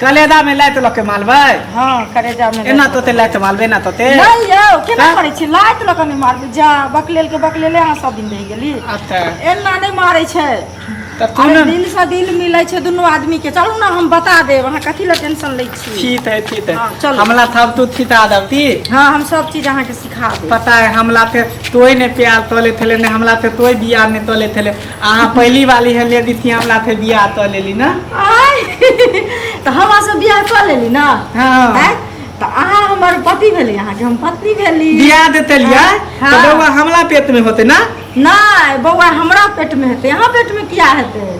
कलेदा में लाइत लऽ के मालबै हँ करेजा में एना तोते लाइत मालबै एना तोते नहीं यौ केना हाँ? करै छी लाइत लऽ के नहि मारबै जा बकलेल के बकलेले अहाँ सब दिन रहि गेली अच्छा एना नहि मारै छै तऽ तू अरे ने दिल से दिल मिलै छै दुनू आदमी के चलू ने हम बता देब अहाँ कथी लए टेंशन लै छी ठीक है ठीक है हाँ, चलो। हमला थाप तू छिटा दबती हँ हम सब चीज अहाँके सिखा देब पता है हमला पे तोय ने प्यार तोले थेले ने हमला पे तोय बियाह ने तोले थेले अहाँ पहली वाली है लेडी थी हमरा थे बियाह कऽ लेली ना आय तऽ हमरा से बियाह कऽ लेली ना हाँ। आय तऽ अहाँ हमर पति भेली अहाँ के हम पत्नी भेली बियाह देते लिया हाँ। तो बउआ हमला पेट में होते ना नहि बौआ हमरा पेट में हेतै अहाँ पेट में किया हेतै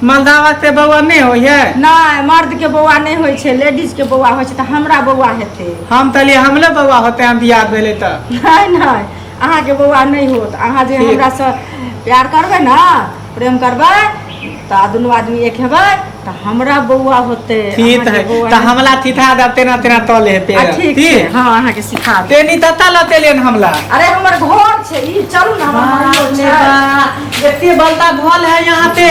मलदावा से बउआ नहीं होई है नहि मर्द के बौआ नहि होइ छै लेडीज के बौआ होइ छै तऽ हमरा बौआ हेतै हम तलिए हमले बउआ होते हम बियाह भेले तो नहि नहि अहाँके बौआ नहि होत अहाँ जे हमरासँ प्यार करबै ने प्रेम करबै तऽ दुनू आदमी एक हेबै तऽ हमरा बौआ होते ठीक है तऽ हमला थिथा द तेना तेना तले हेते ठीक छै हां अहाँ के सिखा दे तेनी तता लते लेन हमला अरे हमर घर छै ई चलू ना हमर घर छै एते बलता भल है यहां पे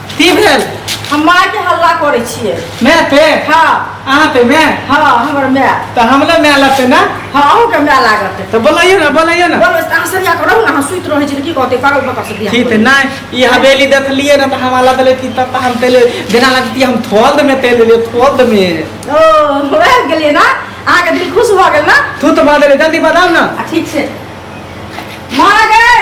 की भेल हम माय के हल्ला करे छिए मैं पे हां अहाँ पे मैं हां हमर मैं तो हमला मैं लगते ना हां अहू के मैं लागत तो बोलाइए ना बोलाइए ना बोलो अहाँ सरिया के रहू ना अहाँ सुत रहे छी की कहते पागल बता से बियाह ठीक है ना ई हवेली देख लिए ना तो हमारा दले की तब हम तेल देना लगती हम थोल में तेल ले थोल में ओ हो गेलिए ना अहाँ के दिल खुश भ गेल ना तू तो बादल जल्दी बताओ ना ठीक से मां गए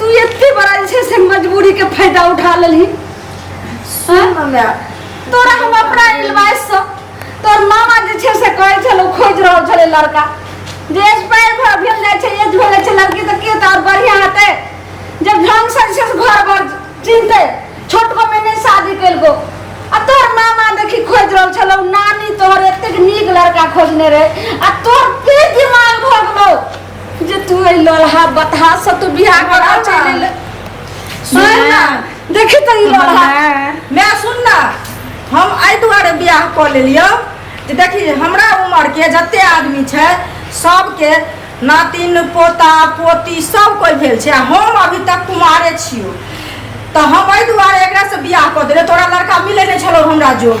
तू एते बड़ा जे छै से मजबूरी के फायदा उठा लेलही हाँ? हमरा तोरा हम अपना एडवाइस से तोर मामा जे छै से कहै छलो खोज रहल छले लड़का जे एज पैर भर भेल जाइ छै एज भेल जाइ छै लड़की तऽ के तऽ बढ़िया हेतै जब ढंग से जे छै से घर भर चिन्हतै छोटको में नहि शादी केलको आ तोर मामा देखी खोज रहल छलो नानी तोहर एतेक नीक लड़का खोजने रहे आ तोर के दिमाग भगलो जे तू है लोलहा बतहा से तू बियाह करा चले ले सुन ना देखी तो ई लोलहा मैं सुन ना हम आई दुआरे बियाह कऽ लेलियो जे देखी हमरा उम्र के जते आदमी छै सबके नातिन पोता पोती सब कोई भेल छै आ हम अभी तक कुमारे छियो तऽ हम एहि दुआरे एकरा से बियाह कऽ देलियै तोरा लड़का मिले नहि छलो हमरा जोग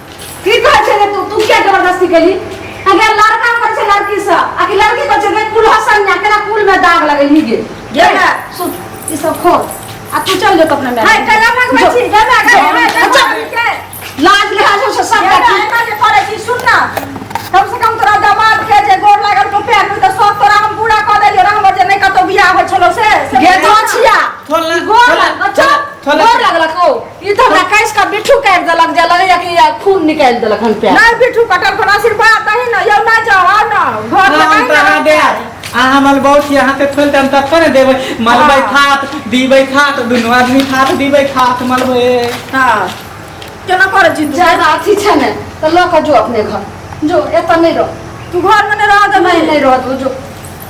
की कहै छै रे तू तू किया जबरदस्ती केली अगे लड़का कहै छै लड़की से आ कि लड़की कहै छै रे कुल हसन ना केना कुल में दाग लगे ही गे ये ना। सुन ई सब खो आ तू चल जो तो अपने में हाय कला भगवा छी गला गला अच्छा। लाज लिहाज हो से सब देखी एना जे करे छी सुन ना कम से कम तोरा दामाद के जे गोर लागल को पैर में त सब तोरा हम पूरा क देलियो रहम जे नै कतो बियाह होय छलो से से गे तो छिया थोला- गोर थोला- लागल चल थोला- गोर लागल को ई तऽ हमरा कैस का बिठू काट देलक जे लगैया कि या खून निकाल देलक हन पे नहीं बिठू कटल कोना आशीर्वाद दही ना यौ ना जाओ आ ना घर में हम नहीं तो अहाँ दे आ हमर बहुत यहाँ पे खोल देम तब पर देबै मलबै हाँ। खात दीबै खात दुनू आदमी खात दीबै खात मलबै हां केना करे छी तू ज्यादा अथी छै ने तऽ लऽ कऽ जो अपने घर जो एतऽ नहि रह तू घर में नहीं रह दे नहीं नहीं रह तू जो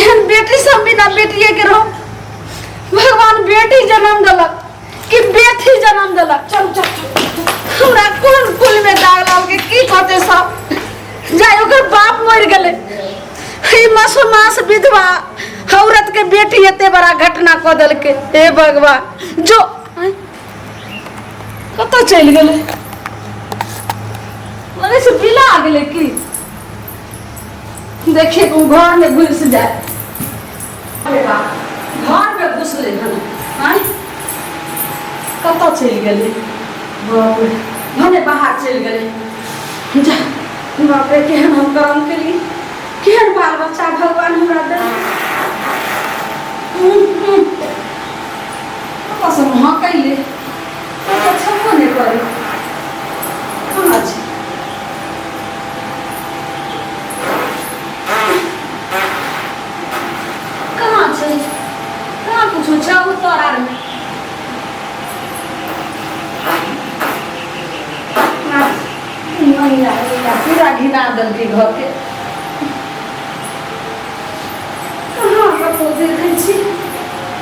एहन बेटी सब बिना बेटिए के रहो भगवान बेटी जन्म देलक कि बेटी जन्म देलक चल चल चल। हमरा कोन कुल में दाग लाग के की कहते सब जाय ओकर बाप मर गेले हे मासूमास विधवा औरत के बेटी एते बड़ा घटना कऽ देलकै हे भगवान जो कतऽ चलि गेलै लगै छै बिला गेलै की देखिए ओ घर में घुस जाए अरे बा घर में घुसलै हन आँय कतऽ चलि गेलै बाप रे भने बाहर चलि गेलै जा बाप रे केहन हम करम केली केहन बाल बच्चा भगवान हमरा देलकै हम्म, हम्म। पापा सब हाँ कैले पापा छपो नहीं करे कहाँ छै कहाँ छै कहाँ कुछो छै ओ तोर आर में महिला महिला पूरा घिना देलकै घर के कहाँ कतहु देखै छी